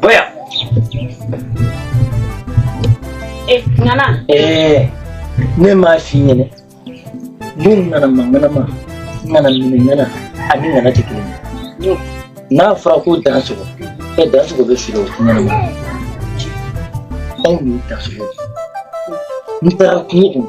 Boya. Eh, Ŋana. Eh. Ne m'a f'i ɲɛna. Don nana ma ŋana ma. Ŋana minɛ ŋana. A ni ŋana tɛ kelen ye. N'a fɔra ko dan sogo. E dan sogo bɛ feere o ŋana ma. Anw ni dan sogo. N taara kungo kɔnɔ.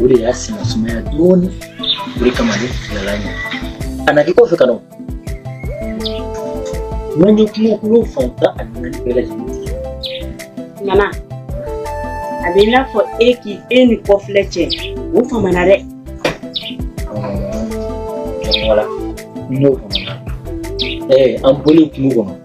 o de y'a senna sumaya dɔɔni o de kama ne bilala ɲɛ a na kɛ kɔfɛ ka na n'an ye kungokolo fan tan ani naani bɛɛ lajɛlen ŋana a bɛ i n'a fɔ e k'i e ni kɔfilɛ cɛ o famana dɛ wala n'o famana ɛɛ an bɔlen kungo kɔnɔ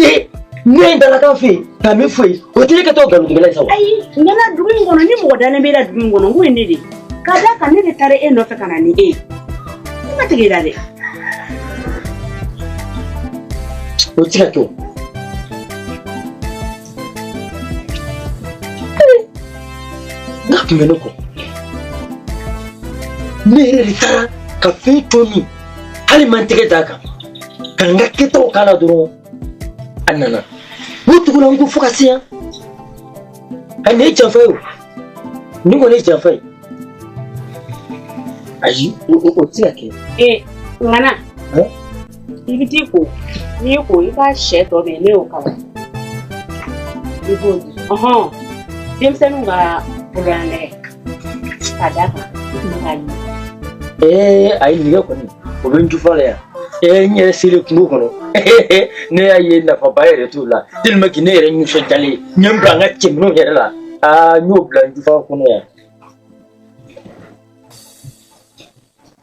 ee ne ye dalakan fɛ yen ka min fɔ yen o tɛ ne ka taa nkalontigɛla ye sa wa. ayi ŋana dugu in kɔnɔ ni mɔgɔ dalen b'e la dugu in kɔnɔ n ko ye ne de ye ka d'a kan ne de taara e nɔfɛ ka na ni e ye ne ma tigɛ i la dɛ. o tɛ ka kɛ o. n'a tun bɛ ne kɔ ne yɛrɛ de taara ka fɛn to min hali n ma n tɛgɛ d'a kan ka n ka kɛtaw k'a la dɔrɔn a nana ne tugula n kɔ fo ka se yan a nin ye janfa ye o nin kɔni ye janfa ye ayi o tɛ se ka kɛ. ee ŋana i bɛ t'i ko n'i ko i ka sɛ tɔ bɛ yen ne y'o kalan i b'o di denmisɛnninw ka bololanɛgɛ. Ee ayi nɛgɛ kɔni o bɛ n jufa la yan ee n yɛrɛ selen kungo kɔnɔ ne y'a ye nafaba yɛrɛ t'o la tellement que ne yɛrɛ nisɔndiyalen n y'a bila n ka cɛminɛnw yɛrɛ la aa n y'o bila n jufa kɔnɔ yan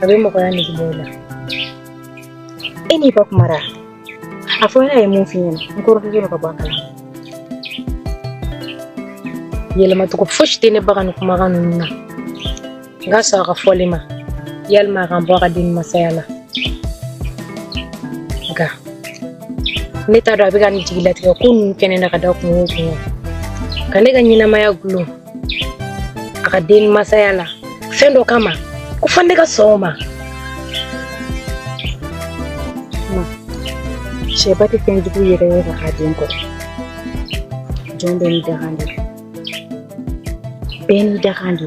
a bɛ mɔgɔya nege bɔ i la e n'i ka kuma ra a fɔ ne ye mun f'i ɲɛna n kɔrɔkɛ ka bɔ a kala yɛlɛmacogo fosi tɛ ne baga ni kumakan ninnu na n ka sɔn a ka fɔli ma walima a ka n bɔ a ka den masaya la nka ne t'a dɔn a bɛ ka nin jigilatigɛ ko ninnu kɛ ne na ka da kungo kun ka ne ka ɲɛnamaya gulon a ka den masaya la fɛn dɔ kama ko fan de ka sɔn ma cɛba tɛ fɛn jugu yɛrɛ ye ka den kɔrɔ jɔn bɛɛ n'i dakan de bɛɛ n'i dakan de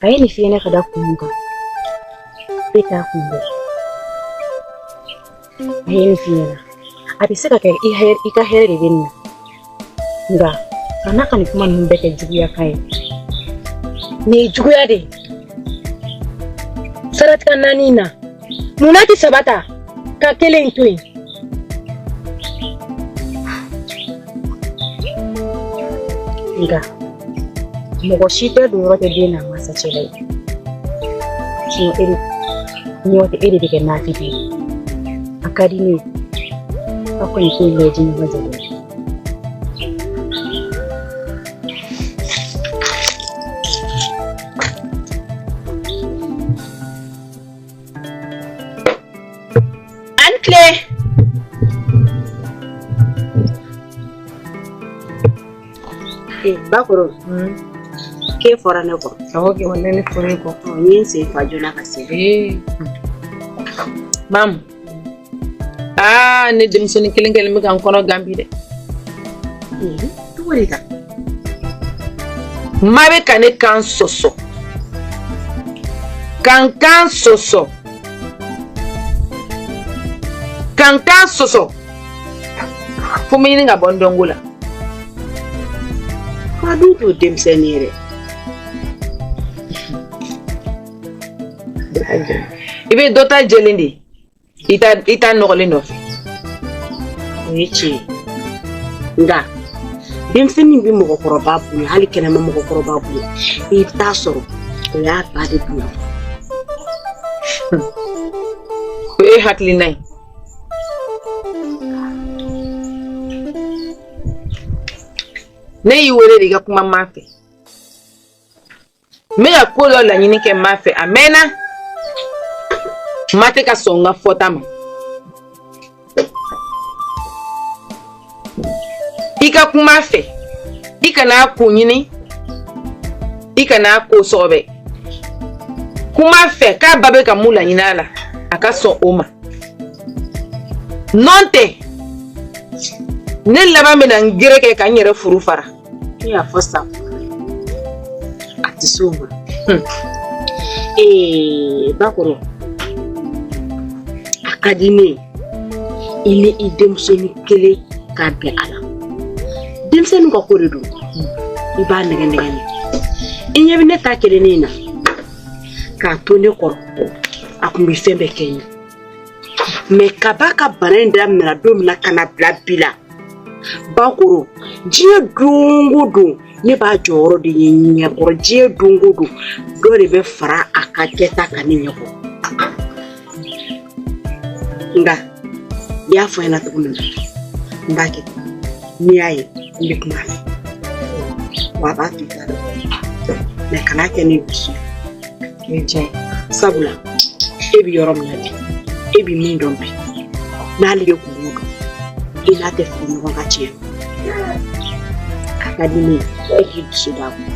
a ye nin f'i ɲɛna ka da kun mun kan e t'a kun dɔn a ye nin f'i ɲɛna a bɛ se ka kɛ i ka hɛrɛ de bɛ nin na nka kana ka nin kuma ninnu bɛɛ kɛ juguya kan ye nin ye juguya de ye siratigɛ naani in na mun na tɛ saba ta ka kelen in to yen nka mɔgɔ si tɛ don yɔrɔ tɛ den n'a mansa cɛ la ye sinɔn e de nɔntɛ e de bɛ kɛ naafigi ye a ka di ne ye aw kɔni k'o lajɛ ɲɔgɔn cɛ dɛ A' ni tile! Eh, bakɔrɔ hmm. k'e fɔra ne kɔ awɔ kɛ walahi ne fɔra e kɔ n ye n sen fa joona ka se mamu aa ne denmisɛnnin kelen kelen bɛ ka n kɔnɔ gan bi dɛ ma bɛ ka ne kan sɔsɔ ka n kan sɔsɔ ka n kan sɔsɔ fo n bɛ ɲini ka bɔ n dɔnko la ma dun t'o denmisɛnnin ye dɛ i bɛ dɔ ta jɛlen de i ta i ta nɔgɔlen nɔfɛ o ye tiɲɛ ye nka denmisɛnnin bɛ mɔgɔkɔrɔba bonya hali kɛnɛma mɔgɔkɔrɔba bonya i bɛ taa sɔrɔ o y'a ba de bonya o ye hakilina ye ne y'i wele de i ka kuma ma fɛ n bɛ ka ko dɔ laɲini kɛ ma fɛ a mɛɛnna ma tɛ ka sɔn n ka fɔta ma i ka kuma a fɛ i kana a kun ɲini i kana a ko sɔgɔbɛ kuma a fɛ k'a ba bɛ ka mun laɲini a la a ka sɔn o ma nɔntɛ ne laban bɛna n gere kɛ ka n yɛrɛ furu fara Hiyo i y'a fɔ sa a tɛ sɔn a ma hmm. Eh, bakɔrɔ a ka di ne ye i n'i denmusonin kelen ka bɛn a la denmisɛnnin ka ko de don i b'a nɛgɛnnɛgɛn i ɲɛ bɛ ne ta kelennin in na k'a to ne kɔrɔ a tun bɛ fɛn bɛɛ kɛ n ye mɛ kab'a ka bana in daminɛna don min na ka na bila bi la bakɔrɔ diɲɛ don o don ne b'a jɔyɔrɔ de ye n ɲɛkɔrɔ diɲɛ don o don dɔ de bɛ fara a ka kɛta kan ne ɲɛkɔrɔ nka i y'a fɔ n ɲɛna cogo min na n b'a kɛ n'i y'a ye n bɛ kuma a fɛ wa a b'a to i k'a dɔn mɛ kana kɛ ni dusu ye ni diya ye sabula e bɛ yɔrɔ min na bi e bɛ min dɔn bi n'ale de tun b'o dɔn i n'a tɛ fili ɲɔgɔn ka tiɲɛ a ka di ne ye e k'i dusu d'a kun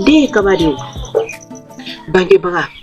den ye kaba de ye bangebaga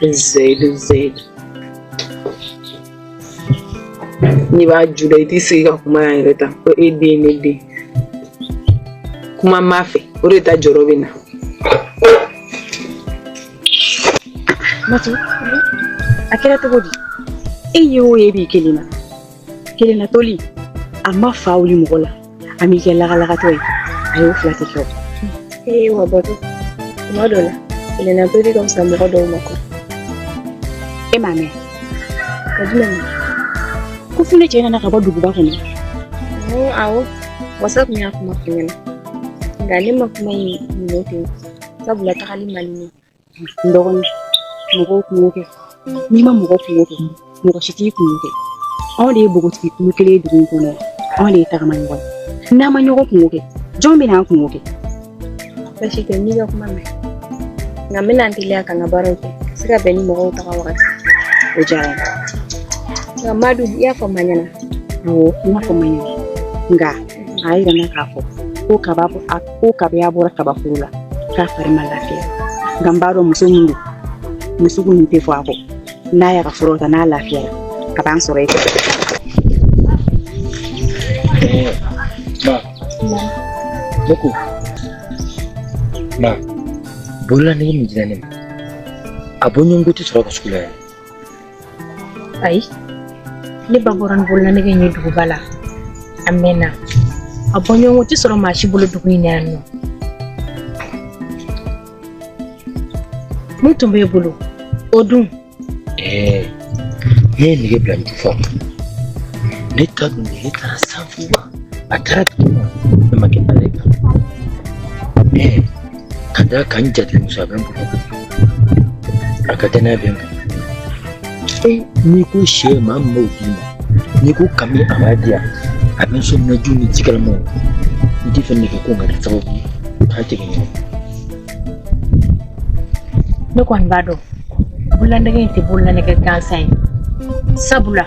zɛyidu zɛyidu n'i b'a ju da i t'i sigi ka kuma yan yɛrɛ tan ko e den ne den kuma n b'a fɛ o de ta jɔrɔ bɛ n na. Matu, a kɛra cogo di? E ye o ye b'i kelen na. kelennatoli a ma fa wuli mɔgɔ la a m'i kɛ lagalagatɔ ye a y'o fila tɛ kɛ ee wa bɔtɔ tuma dɔ la kelennatoli ka fisa mɔgɔ dɔw ma kɔ e m'a mɛn ka jumɛn ma ko funɛ cɛ nana ka bɔ duguba kɔnɔ awɔ wasa tun y'a kuma fɔ n ɲɛna nka ne ma kuma in minɛ ten sabula tagali man di ne ye dɔgɔnin mɔgɔw kunko kɛ n'i ma mɔgɔ kunko kɛ mɔgɔ si t'i kunko kɛ anw de ye npogotigi kulu kelen ye dugu in kɔnɔ anw de ye tagama ɲɔgɔn ye n'an ma ɲɔgɔn kunko kɛ jɔn bɛ n'an kunko kɛ basi tɛ n y'i ka kuma mɛn nka n bɛna n teliya ka n ka baaraw kɛ ka se ka bɛn ni mɔgɔw taga wagati o diyara n ye nka madu i y'a fɔ ma ɲɛna awɔ n y'a fɔ ma ɲɛna nka a y'a yira n na k'a fɔ ko kaba a ko kabi a bɔra kabaforo la k'a fari ma lafiya nka n b'a dɔn muso min don musoko tɛ fɔ a kɔ n'a y'a ka furaw ta n'a lafiyara a b'an sɔrɔ yen ne ko ma bololanɛgɛ min dira ne ma a bɔɲɔgɔnko tɛ sɔrɔ ka sugu la yan ayi ne ba bɔra ni bololanɛgɛ ye duguba la a mɛnna a bɔɲɔgɔnko tɛ sɔrɔ maa si bolo dugu in na yan nɔ min tun b'e bolo o dun ɛɛ ne ye nɛgɛ bila nin fɔ ne ta dun ne taara sanfuba a taara dugu ma ne ma kɛ bala ye kan ɛɛ ka da kan jate musa bɛ bolo a ka kɛnɛ bɛ bolo n'i ko sɛ maa min b'o d'i ma n'i ko kami a b'a di yan a bɛ n son naji ni jikalamanw n tɛ fɛ nege ko nka kɛ sababu ye k'a jigin ɲɔgɔn ne kɔni b'a dɔn bololanɛgɛ in tɛ bololanɛgɛ gansan ye sabula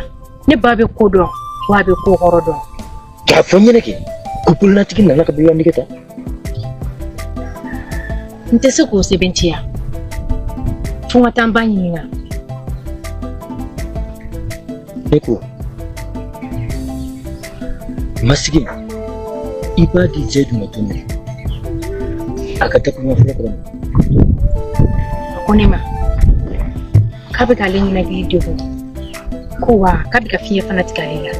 ne ba bɛ ko dɔn wa a bɛ ko kɔrɔ dɔn K'a fɔ n ɲɛna kɛ ko bololatigi nana ka bololanɛgɛ ta n tɛ se k'o sɛbɛntiya fo n ka taa n ba ɲininka ne ko masigi i b'a di jɛ jumɛn tun na a ka dakun fɔlɔ kɔrɔ a ko ne ma k'a bɛ k'ale ninakili degun ko wa k'a bɛ ka fiɲɛ fana tigɛ ale la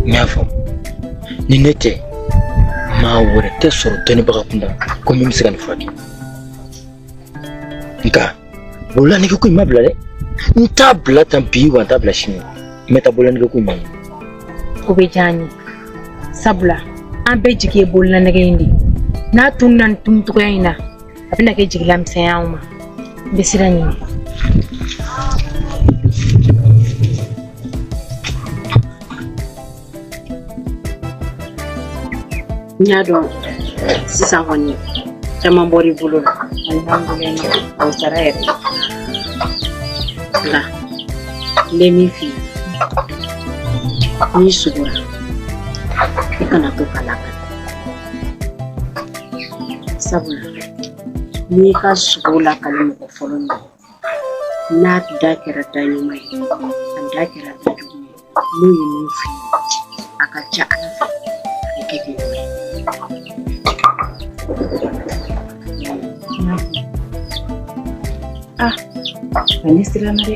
n y'a fɔ ni ne tɛ maa wɛrɛ tɛ sɔrɔ dɔnnibaga kunda ko min bɛ se ka nin furakɛ nka bololanɛgɛ ko in n m'a bila dɛ n t'a bila tan bi wa n t'a bila sini n bɛ taa bololanɛgɛ ko in ma o bɛ diya n ye sabula an bɛɛ jigi ye bololanɛgɛ in de ye n'a tununna nin tununcogoya in na a bɛna kɛ jigilamisɛnya y'anw ma n bɛ siran ɲin n y'a dɔn sisan kɔni caman bɔr'i bolo la o sara yɛrɛ nka n bɛ min f'i ye n'i sugora i kana to k'a lakali sabula n'i ka sugo lakali mɔgɔ fɔlɔ min n'a da kɛra da ɲuman ye a da kɛra da jugu ye n'o ye min f'i ye a ka ca ala fɛ a bɛ kɛ k'i wele ah ne siranna dɛ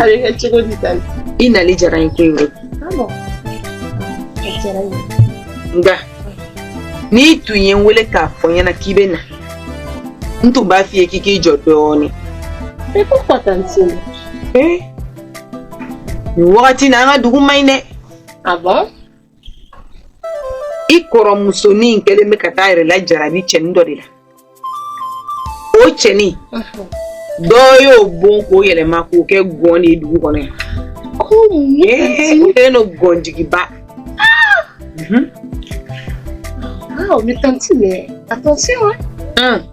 a bɛ kɛ cogo di tanti i nali diyara n ye koyi nka n'i tun ye n wele k'a fɔ n ɲɛna k'i bɛ na n tun b'a f'i ye k'i k'i jɔ dɔɔnin mais pourquoi tantine ee nin wagati in na an ka dugu man ɲi dɛ ah bon i kɔrɔ musonin kɛlen bɛ ka t'a yɛrɛ lajarabi cɛnin dɔ de la o cɛnin dɔ y'o bon k'o yɛlɛma k'o kɛ gɔn de ye dugu kɔnɔ yan o kɛlen don gɔnjigiba Wow, mais tanti, mais attention, hein. Hum.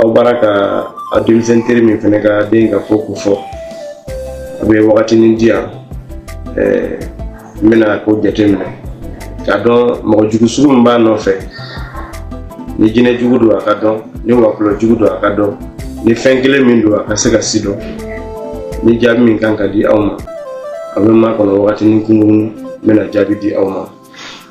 Abarika a denmisɛn teri min fana ka den ka ko ko fɔ a bɛ wagatinin di yan eh, n bɛna ko jateminɛ k'a dɔn mɔgɔ jugu sugu min b'a nɔfɛ ni jinɛ jugu don a ka dɔn ni wɔkulɔ jugu don a ka dɔn ni fɛn kelen min don a ka se ka sidɔn ni jaabi min kan ka di aw ma a bɛ makɔnɔ wagatinin kunkurunnin n bɛna jaabi di aw ma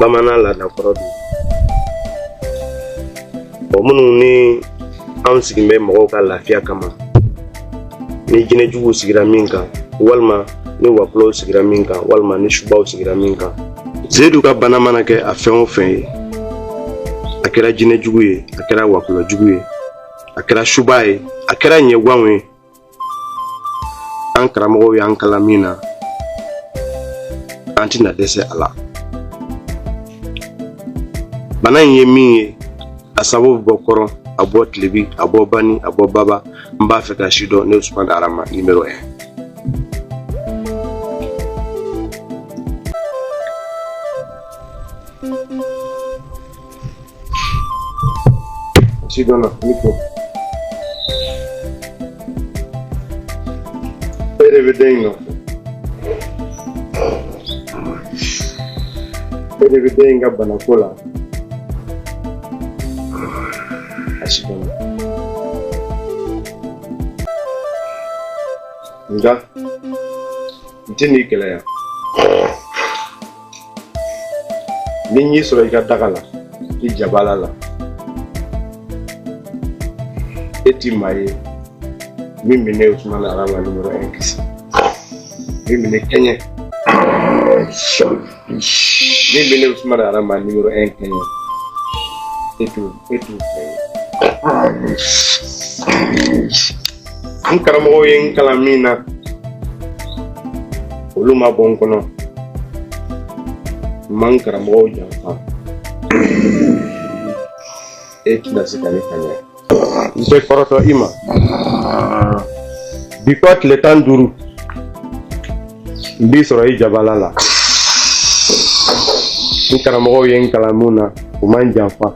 bamanan laada kɔrɔ don o minnu ni an sigin bɛ mɔgɔw ka lafiya kama ni jinɛjuguw sigira min kan walima ni wakulɔw sigira min kan walima ni subaw sigira min kan seyidu ka bana mana kɛ a fɛn o fɛn ye a kɛra jinɛjugu ye a kɛra wakulɔjugu ye a kɛra suba ye a kɛra ɲɛgwanw ye an karamɔgɔw y'an kalan min na an tɛna dɛsɛ a la bana in ye min ye a sababu bɛ bɔ kɔrɔn a bɔ tilebi a bɔ bani a bɔ baba n b'a fɛ ka si dɔn ne usumani arama nimero un si dɔnna ne ko e de bɛ den in nɔfɛ e de bɛ den in ka banako la a si dɔnna nka n tɛ n'i gɛlɛya ni n y'i sɔrɔ i ka daga la i jabala la e ti maa ye min bɛ ne usumani arama nimero un kisi min bɛ ne kɛɲɛ min bɛ ne usumani arama nimero un kɛɲɛ e t'o e t'o fɛn ye. n karamɔgɔw ye n kalan min na olu ma bɔ n kɔnɔ n ma n karamɔgɔw janfa e tɛna se ka ne kɛɲɛ n tɛ kɔrɔtɔ i ma bi kɔ tile tan ni duuru n b'i sɔrɔ i jabala la n karamɔgɔw ye n kalan min na u ma n janfa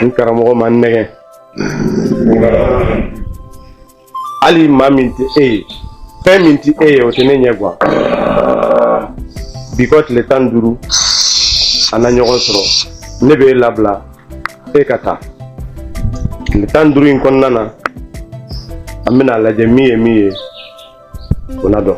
n karamɔgɔ ma n nɛgɛn hali maa min tɛ e ye fɛn min tɛ e ye o tɛ ne ɲɛ gan bi kɔ tile tan ni duuru an na ɲɔgɔn sɔrɔ ne bɛ e labila e ka taa tile tan ni duuru in kɔnɔna na an bɛna a lajɛ min ye min ye o na dɔn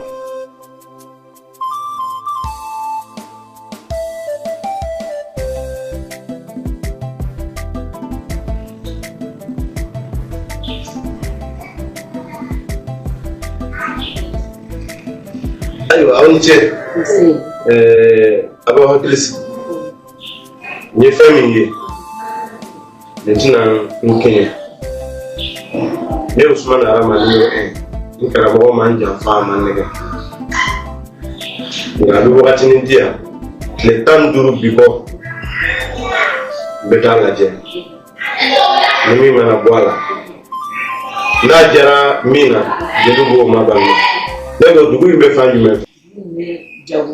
ayiwa aw ni ce aw b'aw hakili sigi n ye fɛn min ye nin tɛna n kɛɲɛ ne usumana hadamaden ye n karamɔgɔ ma n janfa a ma n nɛgɛn nka a bɛ wagatinin di yan tile tan ni duuru bi kɔ n bɛ taa lajɛ ni min mana bɔ a la n'a jara min na jeli b'o ma ban ne ko dugu in bɛ fan jumɛn fɛ jago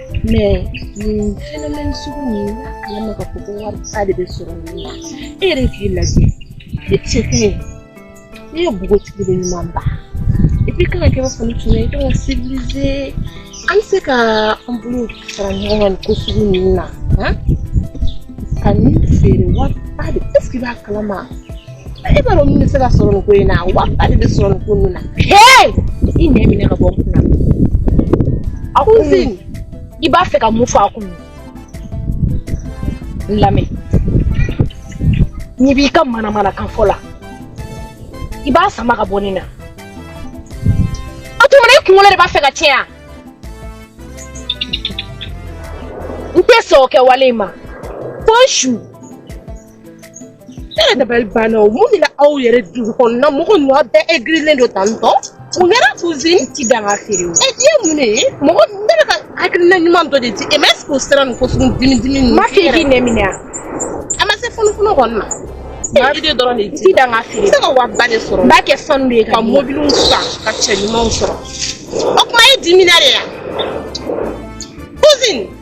mais nin phénomène sugu nin n b'a kalama k'a fɔ ko wari ba de bɛ sɔrɔ nin na e yɛrɛ k'i lajɛ e cɛ ka ɲi ne ye bogotigi de ɲuman ba et puis kana kɛ b'a fɔ ne tun ye ka civiliser an bɛ se ka an bolo fara ɲɔgɔn kan nin ko sugu ninnu na ka nin feere wari ba de est ce que i b'a kalama e b'a dɔn min bɛ se ka sɔrɔ nin ko in na wari ba de bɛ sɔrɔ nin ko ninnu na i nɛ minɛ ka bɔ n kun na a kɔnɔ i b'a fɛ ka mun fɔ a kɔnɔ n lamɛn n'i b'i ka manamanakan fɔ la i b'a sama ka bɔ ne na o tuma na i kunkolo de b'a fɛ ka tiɲɛ yan n tɛ sɔn o kɛwale in ma fo n su Ne yɛrɛ dabali banna o mun de la aw yɛrɛ dugu kɔnɔna mɔgɔ ninnu aw bɛɛ aigrilen don tan tɔ mun kɛra cousine tɛ dan ka feere o e ye mun de ye mɔgɔ ne bɛ ka hakilina ɲuman dɔ de di e ma est-ce que o sera nin ko sugu dimi dimi ninnu ma f'i k'i nɛ minɛ wa a ma se funufunu kɔni ma Maa bɛ idée dɔrɔn de di dan ka feere i se ka wari ba de sɔrɔ n b'a kɛ sanu de ye ka mobiliw san ka cɛ ɲumanw sɔrɔ o tuma e dimina de ya cousine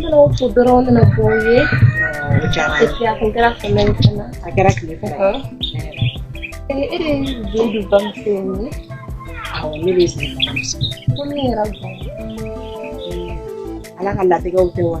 Yɔrɔw ko dɔrɔn nana bɔ ye kɛra fana a kɛra tile ala ka latigɛw tɛ wa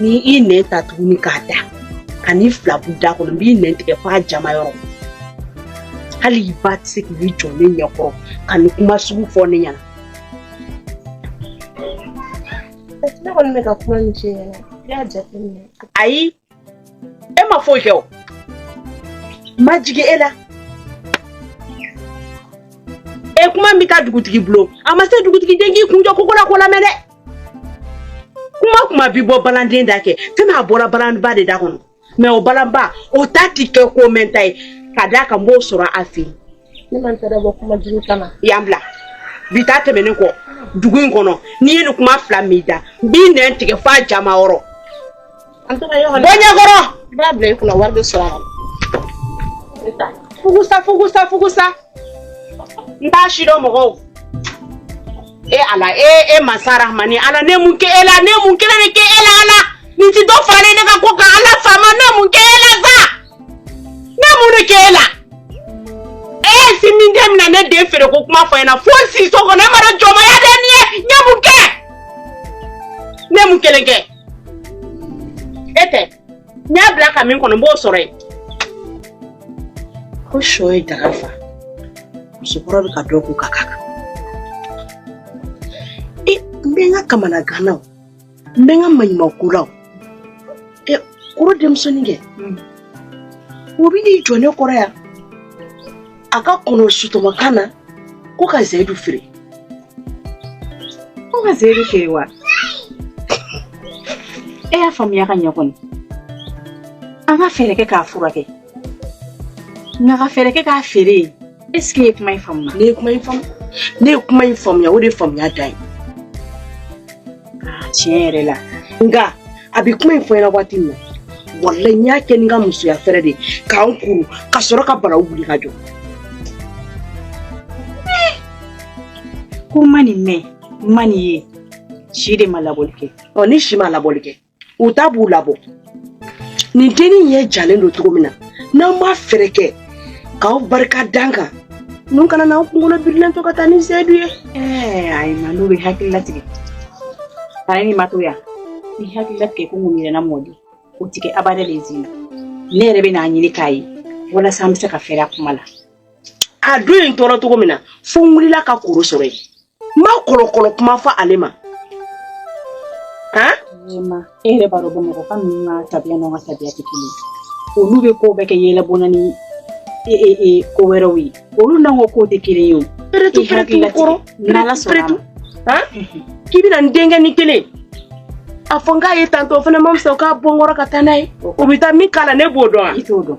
ni i nɛn ta tuguni k'a da ka n'i fila bu da kɔnɔ n b'i nɛn tigɛ f'a janma yɔrɔ hali i ba tɛ se k'i jɔ ne ɲɛkɔrɔ ka nin kuma sugu fɔ ne ɲɛna ne kɔni bɛ ka kuma min f'i ɲɛna i y'a jateminɛ ayi e ma foyi kɛ o ma jigin e la e kuma min ka dugutigi bulon a ma se dugutigi den k'i kunjɔ koko la k'o lamɛn dɛ kuma o kuma bi bɔ balanden da kɛ fɛn min a bɔra balanba de da kɔnɔ mais o balanba o ta ti kɛ ko mɛnta ye ka d'a kan n b'o sɔrɔ a fɛ yen ne man tɛ bɔ kuma jugu kama yan bila bi ta tɛmɛnen kɔ dugu in kɔnɔ ni n ye nin kuma fila mɛn i da n b'i nɛn tigɛ f'a janma yɔrɔ An taara yɔrɔ la. Bɔ n ɲɛkɔrɔ. I b'a bila i kunna wari bɛ sɔrɔ a la. Fugusa fugusa fugusa. N t'a si dɔn mɔgɔw. E Ala e e masa Rahamani Ala ne ye mun kɛ e la ne ye mun kelen de kɛ e la Ala nin tɛ dɔ faralen ne ka ko kan Ala faama ne ye mun kɛ e la sa ne ye mun de kɛ e la e ye si min den mina ne den feere ko kuma fɔ n ɲɛna fo n siso kɔnɔ e ma dɔn jɔnmaya de ye nin ye n ye mun kɛ ne ye mun kelen kɛ. e tɛ n y'a bila ka min kɔnɔ n b'o sɔrɔ yen ko sɔ ye daga fa musokɔrɔ bɛ ka dɔ k'u ka kan e n bɛ n ka kamanagan na n bɛ n ka maɲumanko la e koro denmusonin kɛ o bɛ n'i jɔ ne kɔrɔ yan a ka kɔnɔ sutɔmɔkan na ko ka zayidu feere ko ka zayidu feere wa e y'a faamuya ka ɲɛ kɔni an ka fɛɛrɛ kɛ k'a furakɛ nka ka fɛɛrɛ kɛ k'a feere est-ce e ye kuma in faamuya ne ye kuma in faamu ne ye kuma in faamuya o de ye faamuya dan ye Aa tiɲɛ yɛrɛ la nka a bɛ kuma in fɔ n ɲɛna waati min na walayi n y'a kɛ n ka musoya fɛɛrɛ de ka n kuru ka sɔrɔ ka baraw wuli ka jɔ ko n ma nin mɛn n ma nin ye si de ma labɔli kɛ ɔ ni si ma labɔli kɛ u ta b'u labɔ nin dennin ɲɛ jalen don cogo min na n'aw ma fɛɛrɛ kɛ k'aw barika d'an kan ninnu kana n'an kunkolo birilen to ka taa ni sedu ye eh, ayi ma n'u bɛ hakili latigɛ bana ni ma to yan ni hakili latigɛ ko mun yɛrɛna mɔdi o tɛ kɛ abada le zi ne yɛrɛ bɛ n'a ɲini k'a ye walasa an bɛ se ka fɛrɛ a kuma la a don in tɔɔrɔ cogo min na fo n wulila ka koro sɔrɔ yen n ma kɔlɔkɔlɔ kuma fɔ ale ma han e yɛrɛ b'a dɔn bamakɔka ninnu ka tabiya n'an ka tabiya tɛ kelen olu bɛ ko bɛɛ kɛ yɛlɛbɔ la ni e, e, e, ko wɛrɛw ye olu n'an ka kow tɛ kelen ye o peretu peretu kɔrɔ n'ala sɔnna a ma k'i bɛna n denkɛnin kelen a fɔ n k'a ye tantɔ o fana ma fisa o k'a bɔ n kɔrɔ ka taa n'a ye o bɛ taa min k'a la ne b'o dɔn wa i t'o dɔn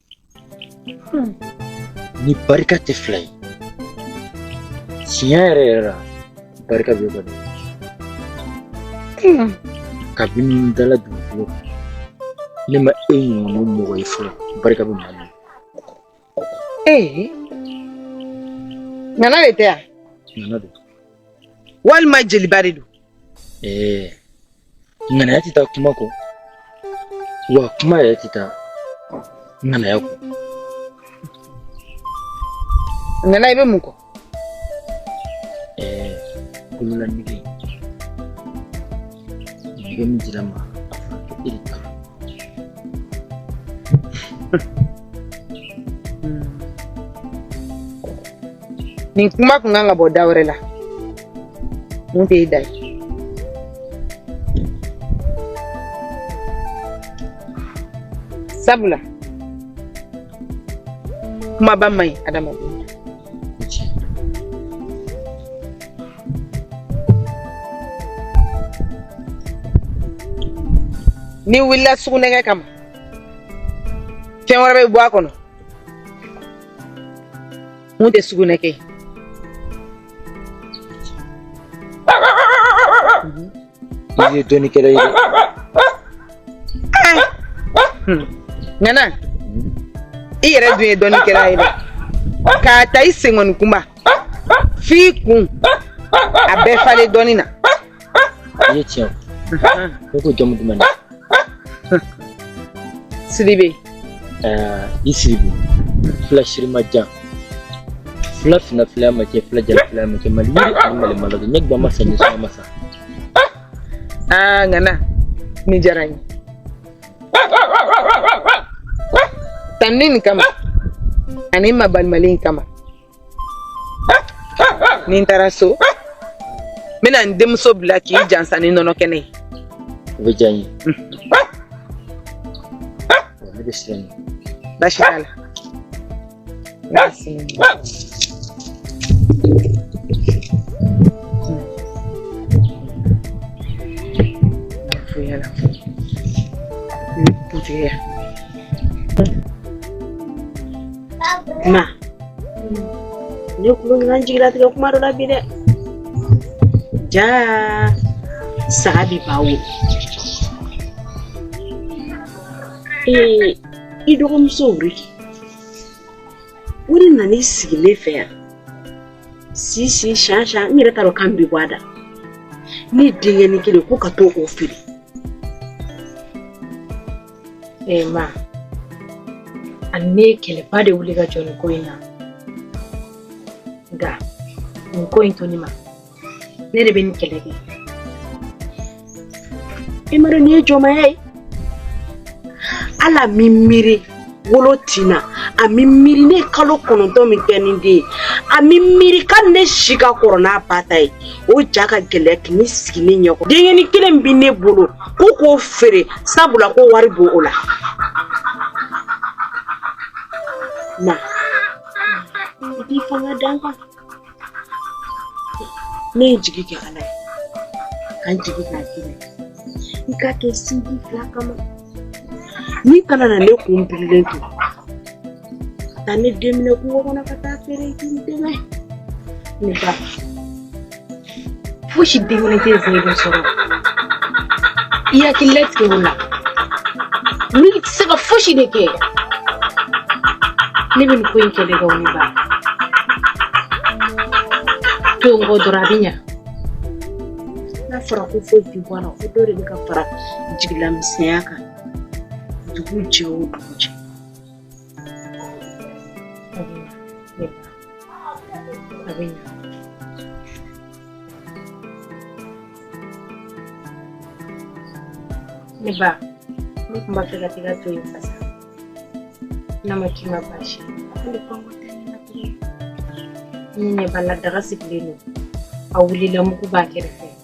Ni barika tɛ fila ye tiɲɛ yɛrɛ yɛrɛ la barika bɛ kɔni kabini n dala dugukolo kan ne ma e ɲɔgɔnna mɔgɔ ye fɔlɔ barika bɛ maa min ee nana de tɛ yan nana don walima jeliba de don ee ŋanaya tɛ taa kuma kɔ wa kuma yɛrɛ tɛ taa ŋanaya kɔ ŋana i bɛ mun kɔ ɛɛ kolola nege nege min dira n ma a fɔra ko e de ta nin kuma kun kan ka bɔ da wɛrɛ la min tɛ e da ye sabula kumaba man ɲi adamaden n'i wulila sugunɛkɛ kama fɛn wɛrɛ bɛ bɔ a kɔnɔ Min tɛ sugunɛkɛ ye i ye dɔnnikɛla ye ŋana i yɛrɛ dun ye dɔnnikɛla ye k'a ta i senkɔni kunba f'i kun a bɛɛ falen dɔnni na Ye tiɲɛ fɔ. Ne ko jamu duman de. Sidibe. Ɛɛ i Sidibe. Fila sirima jan. Fila fina fila ma kɛ fila jala fila ma kɛ mali yiri ani mali malo ne gba ma san ɲɛsɔn ma san. Aa ŋana ni diyara n ye. Tanuni nin kama ani mabalimali in kama. ni n taara so n bɛna n denmuso bila k'i jansa ni nɔnɔ kɛnɛ ye o bɛ diya n ye ne bɛ sira ɲini baasi t'a la. ma ne kulo ɲuman jigilatigɛ kuma dɔ la bi dɛ jaa saga bi ba wolo ee i dɔgɔmuso wuri wuri nana i sigi ne fɛ yan sisan sisan n yɛrɛ t'a dɔn kan bi bɔ a da ne denkɛnin kelen ko ka to o feere Ee ma ani ne ye kɛlɛba de wuli ka jɔ nin ko in na nka nin ko in to ne ma ne de bɛ nin kɛlɛ kɛ i m'a dɔn nin ye jɔnmaya ye ale m'i miiri wolo tin na a m'i miiri ne kalo kɔnɔntɔn min kɛ ni den ye a m'i miiri ka ne si ka kɔrɔ n'a ba ta ye o ja ka gɛlɛya ka n'i sigi ne ɲɛkɔrɔ denkɛni kelen min bɛ ne bolo Ko k'o feere sabula ko wari b'o la Na i k'i fanga da n kan ne ye jigi kɛ Ala ye ka n jigi k'a d'i ma i k'a kɛ sinji fila kama n'i kana na ne kun birilen to Taa ne den minɛ kungo kɔnɔ ka taa feere k'i dɛmɛ ne ba fosi den kelen tɛ zɛn bɛ sɔrɔ i hakili latigɛ o la n'i tɛ se ka fosi de kɛ ne bɛ nin ko in kɛlɛ kɛ wuli ba to n kɔ dɔrɔn a bɛ ɲa n'a fɔra ko foyi tɛ bɔ a la ko dɔ de bɛ ka fara jigilamisɛnya kan dugu jɛ o dugu jɛ Ne ba ne tun b'a fɛ ka t'i ka to in fasa n'a ma k'i ma baasi ye ne ɲɛ b'a la daga sigilen don a wulila mugu b'a kɛrɛfɛ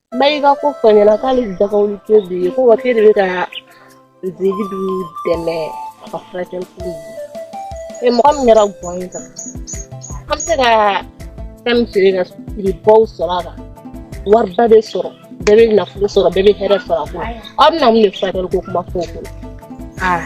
Ba i ka ko fɔ n ɲɛna k'ale daga wuli te bi ye ko wa k'e de be kaa Zeyidu dɛmɛ a ka furakɛli ko in na e mɔgɔ min kɛra guwan ye tan an be se kaa fɛn min feere ka siribaw sɔrɔ a kan wariba de sɔrɔ bɛɛ be nafolo sɔrɔ bɛɛ be hɛrɛ sɔrɔ a ko la aw bena mun de furakɛli ko kuma fɔ o ko la aa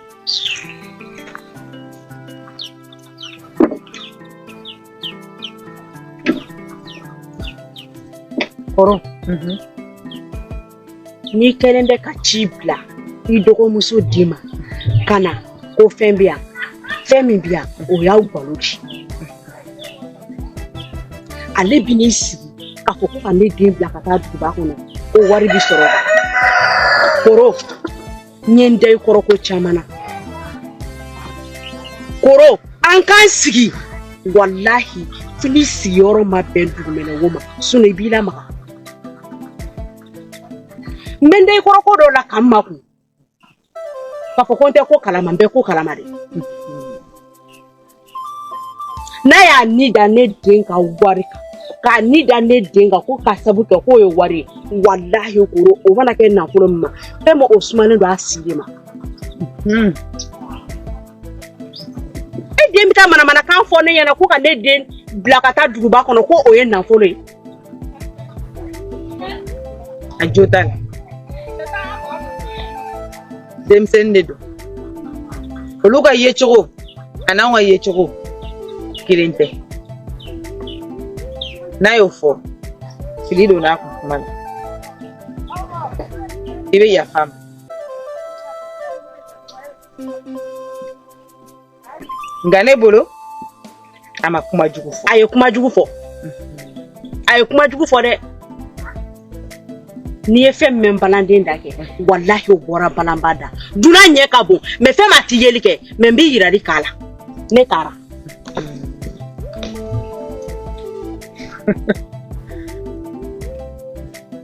Kɔrɔ n'i kɛlen bɛ ka ci bila i dɔgɔmuso de ma ka na ko fɛn bɛ yan fɛn min bɛ yan o y'aw balo di ale bɛ n'i sigi k'a fɔ ko ka ne den bila ka taa duguba kɔnɔ ko wari bɛ sɔrɔ koro n ye n da i kɔrɔ ko caman na koro an k'an sigi walahi fo n'i sigiyɔrɔ ma bɛn dugumɛnɛwo ma sinɔn i b'i lamaga n bɛ n da i kɔrɔ ko dɔ la ka n makun k'a fɔ ko n tɛ ko kalama n bɛ ko kalama de n'a y'a ni da ne den ka wari kan k'a ni da ne den kan ko ka sabu kɛ k'o ye wari ye walahi koro o mana kɛ nafolo min ma fɛn ma o sumalen don a sigi ma hmm. e den bɛ taa manamanakan fɔ ne ɲɛna ko ka ne den bila ka taa duguba kɔnɔ ko o ye nafolo ye a jo t'a la denmisɛnnin de don olu ka yecogo an'anw ka yecogo kelen tɛ n'a y'o fɔ fili donn'a kun kuma na i bɛ yaf'a ma nka ne bolo a ma kuma jugu fɔ a ye kuma jugu fɔ a ye kuma jugu fɔ dɛ n'i ye fɛn mɛn balanden da kɛ walahi o bɔra balanba da dunan ɲɛ ka bon mais fɛn ma ti yeli kɛ mais n bɛ yirali k'a la ne taara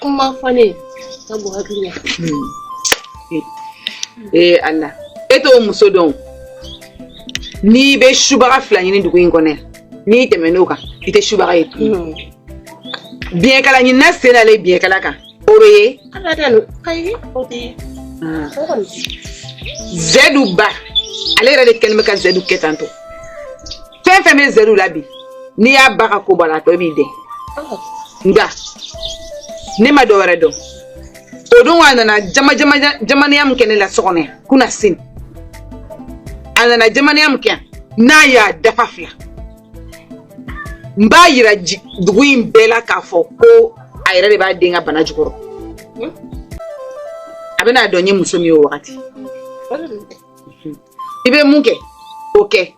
kuma fɔ ne sabu hakuri ne ee ala e t'o muso dɔn n'i bɛ subaga fila ɲini dugu in kɔnɔ n'i tɛmɛn'o kan i tɛ subaga ye tuguni biɲɛkala ɲinina sen dalen biɲɛkala kan o bɛ ye ala tɛ no ayi o tɛ ye o kɔni zɛdu ba ale yɛrɛ de kɛlen bɛ ka zɛdu kɛ tan tɔ fɛn fɛn bɛ zɛdu la bi n'i y'a ba ka ko bɔ a la a tɔ b'i dɛn nka ne ma dɔ wɛrɛ dɔn o don a nana jamaniya min kɛ ne la so kɔnɔ yan kunasini a nana jamaniya min kɛ yan n'a y'a dafa fila n b'a yira dugu in bɛɛ la k'a fɔ ko a yɛrɛ de b'a den ka bana jukɔrɔ a bɛna dɔn n ye muso min ye o wagati i bɛ mun kɛ o kɛ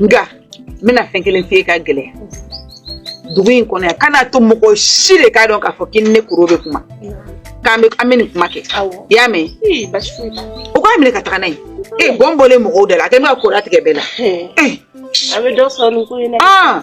nka n bɛna fɛn kelen f'i ye ka gɛlɛya dugu in kɔnɔ yan kan'a to mɔgɔ si de k'a dɔn k'a fɔ k'i ni ne koro bɛ kuma k'an bɛ an bɛ nin kuma kɛ i y'a mɛn o k'a minɛ ka taga n'a ye ee gɔn bɔlen mɔgɔw da la a kɛ n bɛ ka kora tigɛ bɛɛ la a bɛ dɔ sɔrɔ nin ko in na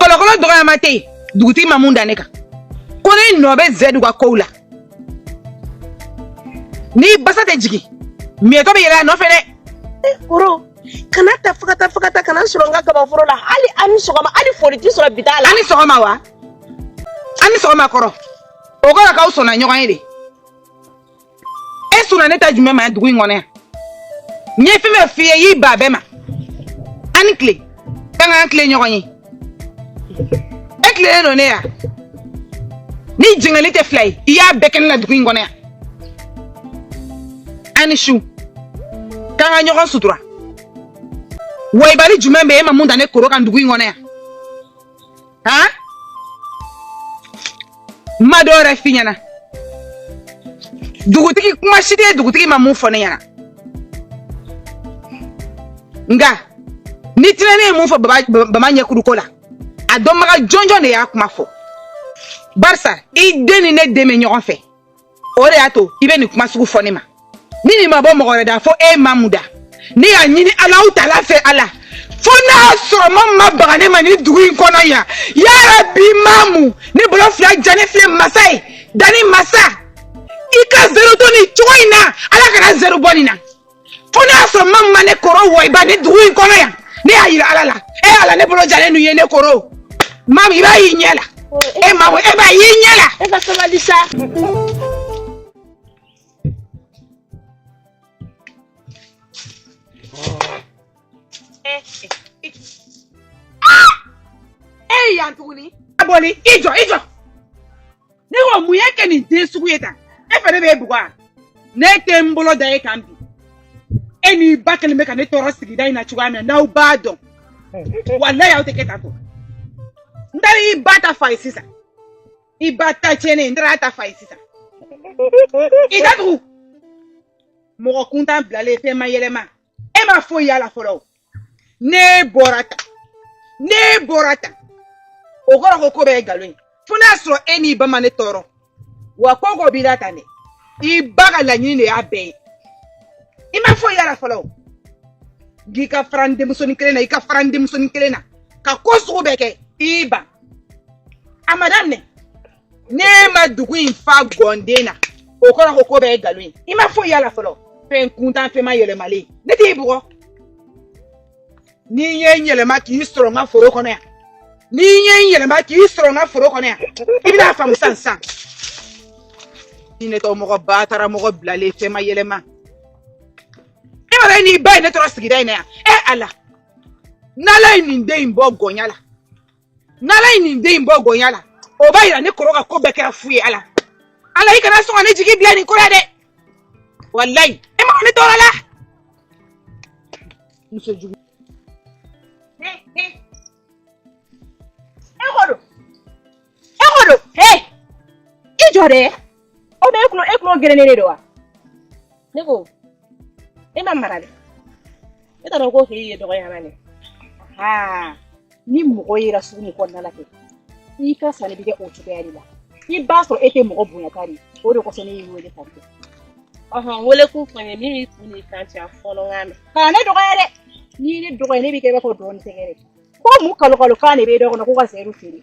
kɔlɔkɔlɔ dɔgɔyama tɛ yen dugutigi ma mun da ne kan ko ne nɔ bɛ zɛdu ka kow la ni basa tɛ jigin miyɛtɔ bɛ yɛlɛn a nɔfɛ dɛ koro kana ta fagata fagata kana sɔrɔ n ka kabaforo la hali an ni sɔgɔma hali foli tɛ sɔrɔ b'i da la an ni sɔgɔma wa an ni sɔgɔma kɔrɔ o kɔrɔ k'aw sɔnna ɲɔgɔn ye de e sɔnna ne ta jumɛn ma yan dugu in kɔnɔ yan n ye fɛn fɛn f'i ye i y'i ban bɛɛ ma an ni tile k'an ka tilen ɲɔgɔn ye e tilennen don ne ye a ni jɛngɛli tɛ fila ye i y'a bɛɛ kɛ ne la dugu in kɔnɔ yan an ni su k'an ka ɲɔgɔn sutura wayibali jumɛn bɛ e ma mun da ne koro kan dugu in kɔnɔ yan ah ma dɔ wɛrɛ f'i ɲɛna dugutigi kuma si tɛ dugutigi ma mun fɔ ne ɲɛna nka ni tinɛni ye mun fɔ bama ɲɛkuruko la a dɔnbaga jɔnjɔn de y'a kuma fɔ barisa i den ni ne den bɛ ɲɔgɔn fɛ o de y'a to i bɛ nin kuma sugu fɔ ne ma ni nin ma bɔ mɔgɔ wɛrɛ da fo e mamu da ne y'a ɲini alahu taala fɛ ala fo n'a y'a sɔrɔ mamu ma baga ne ma nin dugu in kɔnɔ yan ya rabi mamu ne bolo fila jalen filɛ masa ye danni masa i ka zero to nin cogo in na ala kana zero bɔ nin na fo n'a y'a sɔrɔ mamu ma ne koro wɔyiba nin dugu in kɔnɔ yan ne y'a yira ala la e ala ne bolo jalen n'u ye ne koro mamu i b'a y'i ɲɛ la e mamu e b'a y'i ɲɛ la. e ka sabali sa. e yan tuguni. a boli i jɔ i jɔ. ne ko mun y'e kɛ nin den sugu ye tan e fɛ ne bɛ e bugɔ wa ne tɛ n bolo da e kan bi e n'i ba kɛlen bɛ ka ne tɔɔrɔ sigida in na cogoya min na n'aw b'a dɔn walayi aw tɛ kɛ tan tɔ n taara i ba ta fa ye sisan i ba ta tiɲɛnen n taara a ta fa ye sisan i da tugu mɔgɔ kuntan bilalen fɛn mayɛlɛma e ma foyi y'a la fɔlɔ ne bɔra tan ne bɔra tan o kɔrɔ ko ko bɛɛ ye nkalon ye fo n'a sɔrɔ e n'i ba ma ne tɔɔrɔ wa ko ko b'i la tan dɛ i ba ka laɲini de y'a bɛɛ ye i ma foyi y'a la fɔlɔ o k'i ka fara n denmusonin kelen na i ka fara n denmusonin kelen na ka ko sugu bɛɛ kɛ i ban a ma daminɛ ne ma dugu in fa gɔnden na o kɔrɔ ko ko bɛɛ ye nkalon ye i ma foyi y'a la fɔlɔ fɛn kuntan fɛn mayɛlɛmalen ne t'i bugɔ ni n ye n yɛlɛma k'i sɔrɔ n ka foro kɔnɔ yan ni n ye n yɛlɛma k'i sɔrɔ n ka foro kɔnɔ yan i bɛn'a faamu sisan sisan jinɛtɔ mɔgɔ batara mɔgɔ bilalen fɛn mayɛlɛma e yɛrɛ n'i ba ye ne tɔɔrɔ sigida in na yan ɛ ala n'ala ye nin den in bɔ gɔnya la n'ala ye nin den in bɔ gɔnya la o b'a yira ne koro ka ko bɛɛ kɛra fu ye ala ala i kana sɔn ka ne jigi bila nin ko la dɛ walayi e ma ne tɔɔrɔ la muso jugu e ko don e ko don he i jɔ dɛ aw bɛ e kulo e kulo gerennen de don wa ne ko e ma mara dɛ e t'a dɔn ko k'i ye dɔgɔya la dɛ aa ni mɔgɔ yera sugu nin kɔnɔna la kɛ i ka sanni bɛ kɛ o cogoya de la i b'a sɔrɔ e tɛ mɔgɔ bonya ta de o de kosɔn ne y'i wele tan kɛ ɔhɔn wele kun fɔ n ye min b'i kun n'i kan cɛ a fɔ n k'a mɛn kana ne dɔgɔya dɛ n'i ye ne dɔgɔya ne b'i kɛ i b'a fɔ dɔɔnin tɛgɛ dɛ ko mun kalo kalo kan de b'e da kɔnɔ ko ka sɛriw feere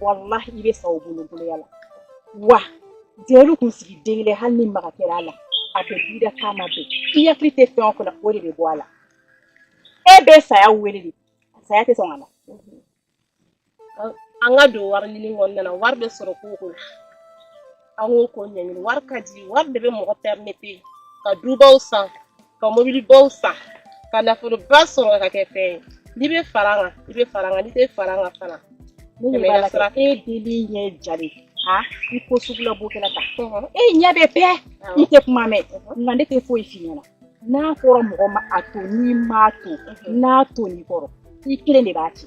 walahi i bɛ sa o boloya la wa denw kunsigi den kelen hali ni maga kɛra a la a bɛ bi da k'a ma bɛn i hakili tɛ fɛn o fɛn na o de bɛ bɔ a la e bɛ saya wele de saya tɛ sɔn ka na an ka don wari ɲini kɔnɔna na wari bɛ sɔrɔ ko o ko la an k'o ko ɲɛɲini wari ka di wari de bɛ mɔgɔ pɛrimete ka dubaw san ka mobilibaw san ka nafoloba sɔrɔ ka kɛ fɛn ye n'i bɛ fara an kan i bɛ fara an kan n'i tɛ fara an kan fana e den in ɲɛ jalen i ko sugula bokɛla ta e ɲɛ bɛ pɛɛ i tɛ kuma mɛn nka ne tɛ foyi f'i ɲɛna n'a fɔra mɔgɔ ma a to n'i m'a to n'a tonna i kɔrɔ i kelen de b'a cɛ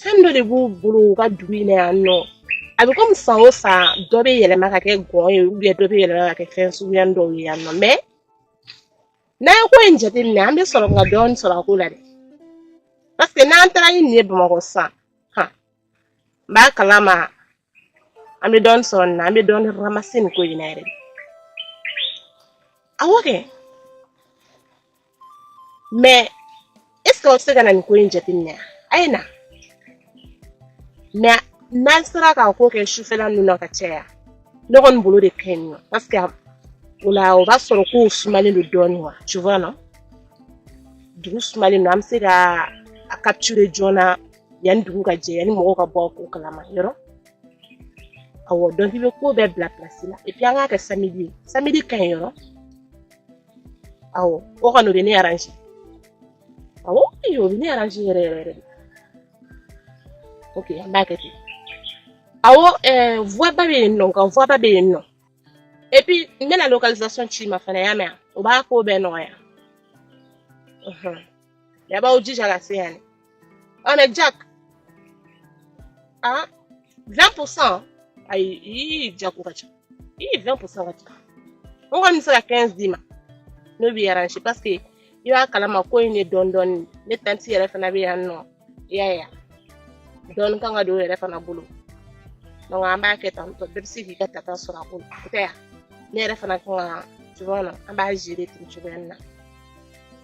fɛn dɔ de b'u bolo u ka dugu in na yan nɔ a bɛ komi san o san dɔ bɛ yɛlɛma ka kɛ gɔn ye ubiyɛn dɔ bɛ yɛlɛma ka kɛ fɛn suguya dɔw ye yan nɔ mɛ n'an ye ko in jateminɛ an bɛ sɔrɔ ka dɔɔni sɔrɔ a ko la dɛ paseke n'an taara ni nin ye bamakɔ sisan han n b'a kalama an bɛ dɔɔnin sɔrɔ nin na an bɛ dɔɔnin ramase nin ko in na yɛrɛ de awɔ kɛ mɛ esike aw tɛ se ka na nin ko in jateminɛ wa a ye na mɛ n'an sera k'a ko kɛ sufɛla ninnu na ka caya ne kɔni bolo o de ka ɲi nɔ paseke o la o b'a sɔrɔ kow sumalen don dɔɔnin wa tu vois non dugu sumalen don an bɛ se ka a capturer joona yanni dugu ka jɛ yanni mɔgɔw ka bɔ ko kalama yɔrɔ awɔ donc i bɛ ko bɛɛ bila pilasi la epi an k'a kɛ samedi ye samedi ka ɲi yɔrɔ awɔ o kɔni o bɛ ne aranze awɔ ee o bɛ ne aranze yɛrɛ yɛrɛ yɛrɛ de ok an b'a kɛ ten awɔ ɛɛ vuwaba bɛ yen nɔ nka vuwaba bɛ yen nɔ epi n bɛna localisation ci i ma fana y'a mɛn wa o b'a ko bɛɛ nɔgɔya. aw b'aw jija ka se yan ah mais jack ah 20% ayi jack o ka ca ii 20% o ka ca nka n bɛ se ka 15 d'i ma n'o b'i arrange parce que i b'a kalama ko in ne dɔn dɔɔni ne tanti yɛrɛ fana bɛ yan nɔ i y'a ye dɔɔni kan ka don o yɛrɛ fana bolo donc an b'a kɛ tan tɔ bɛɛ bɛ se k'i ka tata sɔrɔ a ko la o tɛ yan ne yɛrɛ fana kan ka tu vois an b'a gérer ten cogoya in na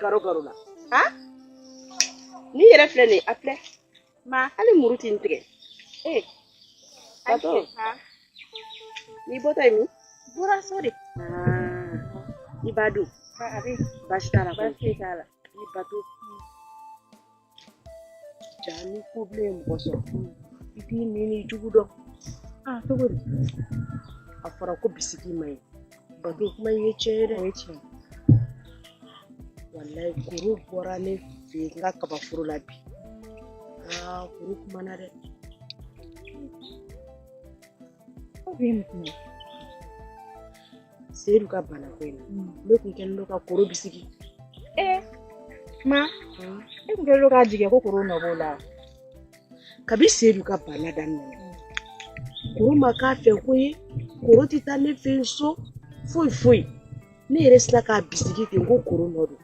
garo garo la ha ne yɛrɛ filɛ nin ye a filɛ ma hali muru tɛ n tigɛ ee bato n'i bɔtɔ ye min bɔra so de i b'a dun baasi t'a la baasi t'a la i bato jaa ni ko bilen ye mɔgɔ sɔrɔ i t'i ɲin n'i jugu dɔn a cogo di a fɔra ko bisigi ma ɲi bato kuma ye tiɲɛ ye dɛ o ye tiɲɛ walayi koro bɔra ne fɛ yen n ka kabaforo la bi aa koro kumana dɛ Seyidu ka bana ko in mm. ne tun kɛlen don ka koro bisigi ee ma mm. e tun kɛlen don k'a jigi ko koro nɔ b'o la kabi Seyidu ka bana daminɛ mm. koro ma k'a fɛ koyi koro tɛ taa ne fɛ so foyi foyi ne yɛrɛ sera k'a bisigi ten ko koro nɔ don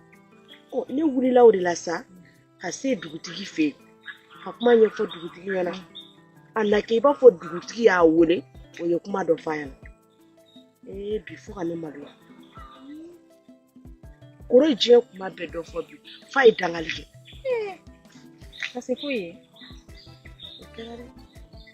ne wulila o de la sa ka se dugutigi fɛ yen ka kuma ɲɛfɔ dugutigi ɲɛna a na kɛ i b'a fɔ dugutigi y'a wele o ye kuma dɔ f'a ɲɛna ee bi fo ka ne maloya koro diɲɛ kuma bɛɛ dɔ fɔ bi f'a ye dangali kɛ ka se foyi ye o kɛra dɛ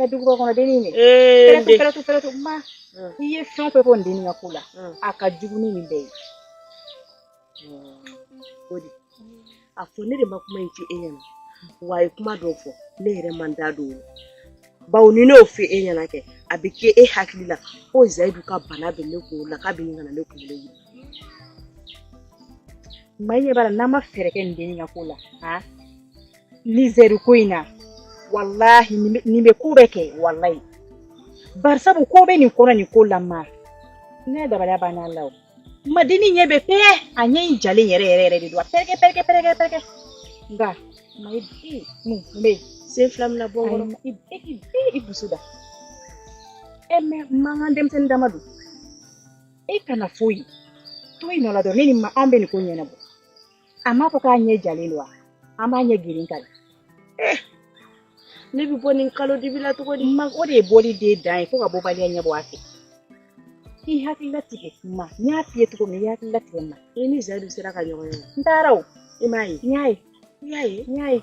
Ɛ dugu kɔnɔ dennin de ma i ye fɛn fɛn fɔ n den ka ko la a ka jugu ni nin bɛɛ ye o de a fɔ ne de ma kuma in ci e ɲɛna wa a ye kuma dɔw fɔ ne yɛrɛ ma n da don o bawo ni ne y'o fɔ e ɲɛna kɛ a bɛ kɛ e hakili la ko zayidu ka bana bɛ ne kunkolo la k'a bɛ ɲini ka ne kunkolo wuli ma n ɲɛ b'a la n'an ma fɛɛrɛ kɛ nin dennin ka ko la ni zayidu ko in na walahi nin bɛ ko bɛɛ kɛ walayi barisabu ko bɛ nin kɔnɔ nin ko la ma ne dabali banna a la o ma dennin ɲɛ bɛ pɛɛ a ɲɛ in jalen yɛrɛ yɛrɛ yɛrɛ de don a pɛrɛkɛ pɛrɛkɛ pɛrɛkɛ pɛrɛkɛ nka mayi bi mun bɛ yen sen fila min na bɔ kɔrɔ i bi i dusu da ɛ mɛ mankan denmisɛnnin dama don e kana foyi to i nɔ la dɔrɔn ne ni ma an bɛ nin ko ɲɛnabɔ a m'a fɔ k'a ɲɛ jalen don wa an b'a ɲɛ geren ka eh, ne bɛ bɔ nin kalo dibi la cogo di ma o de ye bɔli de dan ye fo ka bɔbaliya ɲɛ bɔ a fɛ i hakili latigɛ ma n y'a f'i ye cogo min i hakili latigɛ ma i ni zayidu sera ka ɲɔgɔn ye n taara o i m'a ye n y'a ye n y'a ye n y'a ye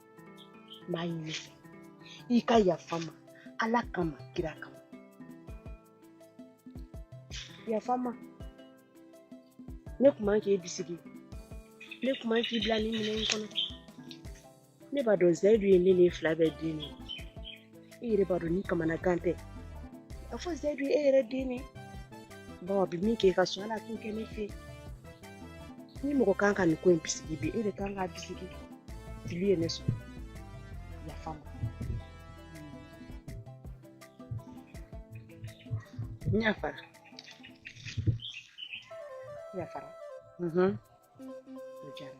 m'a ɲini i fɛ i ka yafa n ma ala kama kira kama yafa n ma ne kun man k'e bisigi ne kun man k'i bila nin minɛn in kɔnɔ ne b'a dɔn zayidu ye ne n'e fila bɛɛ den ne ye e yɛrɛ b'a dɔn ni kamanagan tɛ a fɔ zayidu e yɛrɛ den ne bawa bi min kɛ ka sɔn ala t'o kɛ ne fɛ ni mɔgɔ kan ka nin ko in bisigi bi e de kan k'a bisigi fili ye ne sɔrɔ yafa n ma n yafara yafara o diyara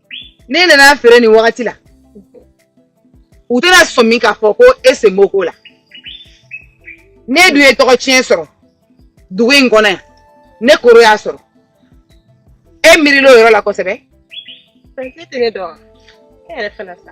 ne nana feere nin wagati la u tɛna sɔmi k'a fɔ ko e sen b'o ko la ne dun ye tɔgɔtiɲɛ sɔrɔ dugu in kɔnɔ yan ne kɔrɔ y'a sɔrɔ e miirila o yɔrɔ la kosɛbɛ. Fɛn tɛ ne dɔn e yɛrɛ fana sa.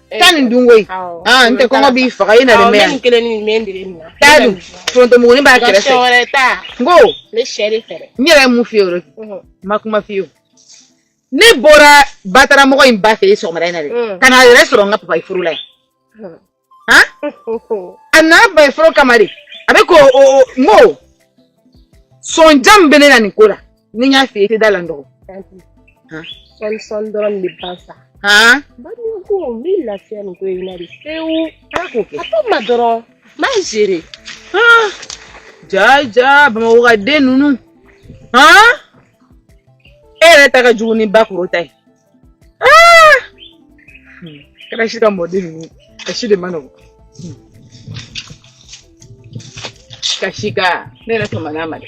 taa nin dun koyi aa n tɛ kɔngɔ b'i faga i na nin mɛn yan t'a dun forontomugunin b'a kɛrɛfɛ n ko n yɛrɛ ye mun f'i ye o de n ma kuma f'i ye o ne bɔra bataramɔgɔ in ba fɛ yen sɔgɔmada in na de ka na a yɛrɛ sɔrɔ n ka papayi foro la yen han a nana papayi foro kama de a bɛ k'o o n ko sɔn jam bɛ ne na nin ko la ni n y'a f'i ye i tɛ da la n dɔgɔ. sɔni sɔni dɔrɔn de bɛ ban sa. bannen kɔ n bɛ lafiya nin ko in na de pewu. ala k'o kɛ. a to n ma dɔrɔn n b'a gere. jaa jaa bamakɔ ka den ninnu e yɛrɛ ta ka jugu ni bakɔrɔ ta ye. Ah! Hmm. Kana shi ka mɔden ninnu ka si de man nɔgɔn hmm. ka si ka ne yɛrɛ tɔmɔ n'a ma dɛ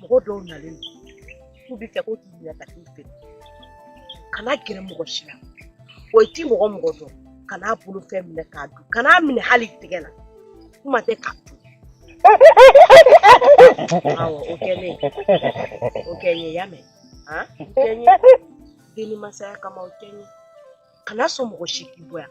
mɔgɔ dɔw nalen don k'u b'a fɛ ko k'i minɛ ka t'i feere kana gɛrɛ mɔgɔ si la o i ti mɔgɔ o mɔgɔ dɔn kan'a bolo fɛn minɛ k'a dun kan'a minɛ hali i tigɛ la kuma tɛ k'a dun awɔ o kɛ ne o kɛ n ye i y'a mɛn han o kɛ n ye denni masaya kama o kɛ n ye kana sɔn mɔgɔ si k'i bɔ yan